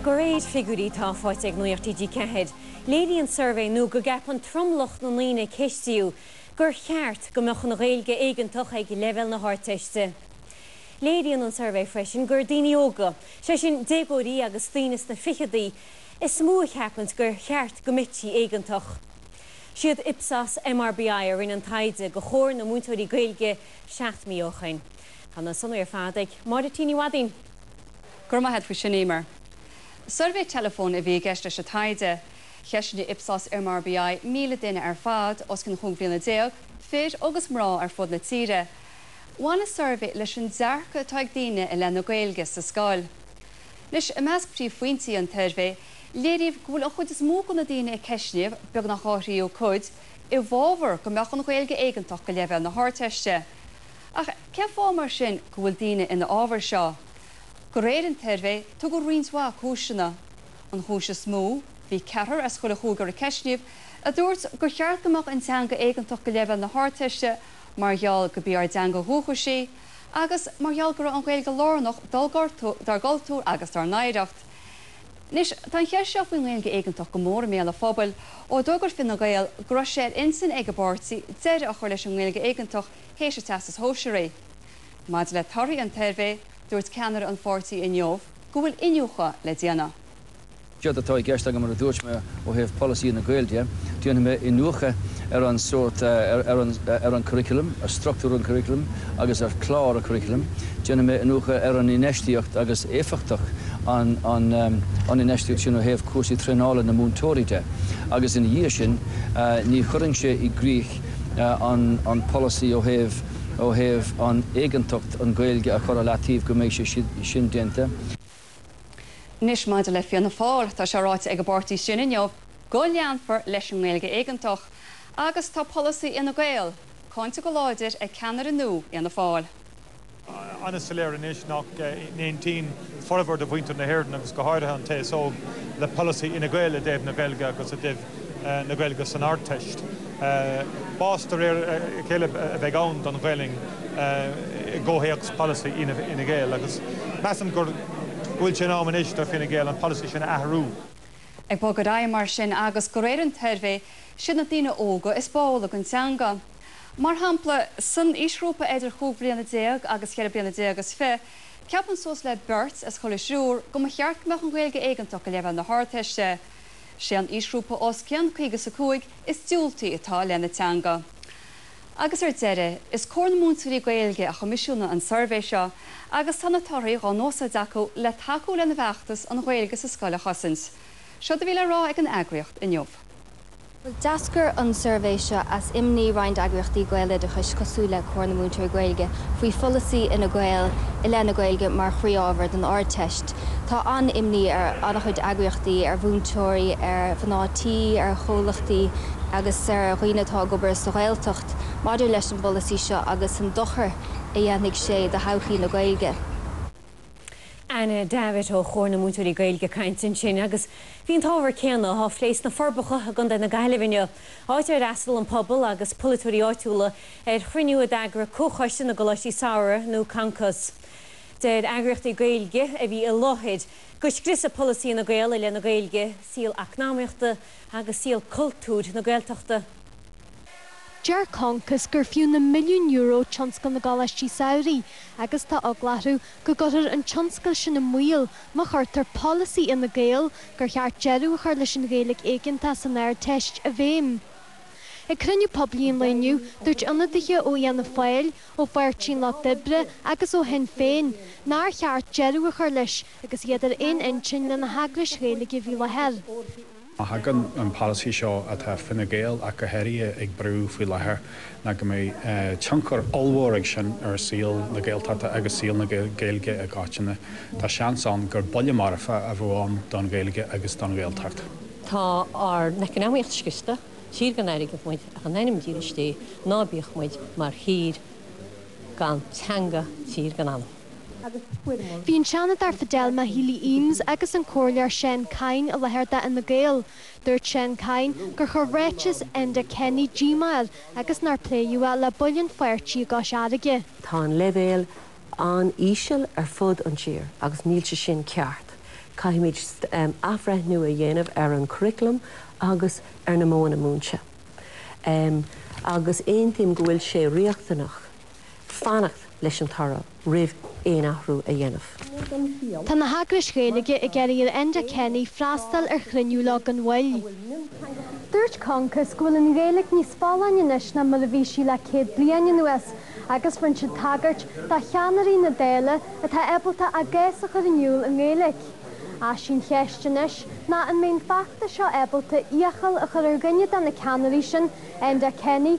De réir figiúirí atá faighte ag Nuacht TG4, léiríonn suirbhé nua go gceapann tromlach na ndaoine a ceistíodh gur cheart go mbeadh an Ghaeilge éigeantach ag leibhéal na hArdteiste. Léiríonn an suirbhé freisin gur daoine óga, sé sin déagóirí agus daoine sna fichidí, is mó a cheapanns gur cheart go mbeití éigeantach. Siad Ipsos MRBI a rinne an taighde do Chomhar na Múinteoirí Gaeilge seacht mí ó shoin. Tá na sonraí ar fad ag Máire T. Ní Mhadaoin. Go raibh maith agat faoi sin, Eimear. Suirbhé teileafóin a bhí i gceist leis an taighde. Cheistnigh Ipsos MRBI 1,000 duine ar fad, os cionn chúig bhliana déag, fir agus mná ar fud na tíre. Bhain an suirbhé leis an dearcadh atá ag daoine i leith na Gaeilge sa scoil. Anois, i measc príomhphointí an tsuirbhé, léiríodh go bhfuil an chuid is mó de na daoine a ceistníodh, beagnach dhá thríú cuid, i bhfábhar go mbeadh an Ghaeilge éigeantach go leibhéal na hArdteiste. Ach cén fáth mar sin go bhfuil daoine ina fhábhar seo? De réir an tsuirbhé tugadh roinnt mhaith cúiseanna. An chúis is mó, bhí ceathrar as chuile chúigear a ceistníodh a dúirt gur cheart go mbeadh an teanga éigeantach go leibhéal na hArdteiste mar gheall gurb í ár dteanga dhúchais í agus mar gheall go raibh an Ghaeilge lárnach dár gcultúr agus dár n-oidhreacht. Anois tá an cheist seo faoin nGaeilge éigeantach go mór i mbéal an phobail ó d'fhógair Fine Gael go raibh sé ar intinn ag an bpáirtí deireadh a chur leis an nGaeilge éigeantach théis an Teastais Shóisearaigh. Maidir le torthaí an tsuirbhé, dúirt ceannaire an pháirtí inniu go bhfuil iniúchadh le déanamh. Séard atá i gceist agam, mar a dúirt mé, ó thaobh polasaithe na Gaeilge de, déanfaidh mé iniúchadh ar an sórt, ar an curriculum, ar structúr an curriculum agus ar chlár an curriculum. Déanfaidh mé iniúchadh ar an infheistíocht agus éifeachtacht an infheistíocht sin ó thaobh cúrsaí traenála na múinteoirí de agus ina dhiaidh sin ní chuirfinnse i gcrích an polasaí ó thaobh ó thaobh an éigeantacht an Ghaeilge a chur i leataobh go mbeidh sé sin déanta. Anois maidir le Fianna Fáil, tá sé ráite ag an bpáirtí sin inniu go leanfar leis an nGaeilge éigeantach agus tá polasaí Fhine Gael cáinte go láidir ag ceannaire nua Fhianna Fáil. an-soiléir anois nach n-aontaíonn formhór de mhuintir na hÉireann, agus go háirithe an t-aos óg, le polasaí Fhine Gael i dtaobh na Gaeilge agus i dtaobh na Gaeilge san Ardteist. Bás de réir a chéile a bheidh ann don Ghaelainn i gcomhthéacs polasaí Fhine Gael agus measaim go bhfuil sé in am anois do Fine Gael an polasaí sin a athrú. Ag bogadh ar aghaidh mar sin agus de réir an tsuirbhé, siad na daoine óga is báúla don teanga. Mar shampla, san aoisghrúpa eidir chúig bhliana déag agus cheithre bliana déag is fiche, ceapann suas le beirt as chuile thriúr go mba cheart go mbeadh an Ghaeilge éigeantach go leibhéal na hArdteiste. Sé an aoisghrúpa os cionn caoga is a cúig is diúltaí atá leis an teanga. Agus ar deireadh, is Comhar na Múinteoirí Gaeilge a choimisiúnaigh an suirbhé seo agus tá na torthaí dhá n-usáid acu le tacú lena bhfeachtas an Ghaeilge sa scoil a chosaint. Seod é a bhí le rá ag an eagraíocht inniu. D'eascair an suirbhé seo as imní roinnt eagraíochtaí gaeloideachais cosúil le Comhar na Múinteoirí Gaeilge faoi pholasaí Fhine Gael i leith na Gaeilge mar chroí-ábhar don Ardteist. Tá an-imní ar an-chuid eagraíochtaí, ar mhúinteoirí, ar mhná tí, ar chomhlachtaí agus ar dhaoine atá ag obair sa Ghaeltacht maidir leis an bpolasaí seo agus an dochar a dhéanfaidh sé do thodhchaí na Gaeilge. Anna Davitt ó Chomhar na Múinteoirí Gaeilge ag caint ansin agus bhí an t-ábhar céanna á phlé sna Forbacha i gContae na Gaillimhe inniu, áit ar fhreastail an pobal agus polaiteoirí áitiúla ar chruinniú a d'eagraigh Comhchoiste na gColáistí Samhraidh nó Concos. Deir eagraíochtaí Gaeilge a bhí i láthair go scriosfadh polasaí Fhine Gael i leith na Gaeilge, saol eacnamaíochta agus saol cultúir na Gaeltachta. Deir Concos gur fiú na milliúin euro tionscal na gcoláistí samhraidh agus tá eagla orthu go gcuirfear an tionscal sin i mbaol má chuirtear polasaí Fhine Gael gur cheart deireadh a chur leis an Ghaeilge éigeantach san Ardteist i bhfeidhm. Ag cruinniú poiblí an lae inniu, dúirt ionadaithe ó Fhianna Fáil, ó Pháirtí an Lucht Oibre agus ó Shinn Féin nár cheart deireadh a chur leis agus iad ar aon intinn leis na heagrais Ghaeilge a bhí i láthair. Má thagann an polasaí seo atá Fine Gael ach go háirithe ag brú faoi láthair ná go mbeidh tionchar ollmhór ag sin ar saol na Gaeltachta agus saol na Gaeilge i gcoitinne, tá seans ann gur buille marfa a bheadh ann don Ghaeilge agus don Ghaeltacht. Tá ár n-eacnamaíocht scriosta, tír gan airgead muid ach in ainm dílis Dé ná bíodh muid mar thír gan teanga, tír gan anam. Bhí an Seanadóir Fidelma Healy Eames agus an Comhairleoir Seán Kyne i láthair d'Fhine Gael. Dúirt Seán Kyne gur chuir ráiteas Enda Kenny díomá air agus nár pléadh é le baill an pháirtí i gCois Fharraige. Tá an leibhéal an-íseal ar fud an tír agus níl sé sin ceart. Caithfimid athbhreithniú a dhéanamh ar an gcuraclam agus ar na modhanna múinte. Agus aontaím go bhfuil sé riachtanach fanacht leis an toradh roimh aon athrú a dhéanamh. Tá na heagrais Ghaeilge ag iarraidh ar Enda Kenny freastal ar chruinniú leo gan mhoill. Dúirt Concos go bhfuil an Ghaeilge níos folláine anois ná mar a bhí sí le 100 bliain anuas agus bhain siad tagairt do cheannairí na Dála atá ábalta a gcás a chur in iúl i nGaeilge. Ach sí'n cheist anois ná an mbeidh an feachtas seo ábalta iachall a chur ar dhuine de na ceannairí sin, Enda Kenny,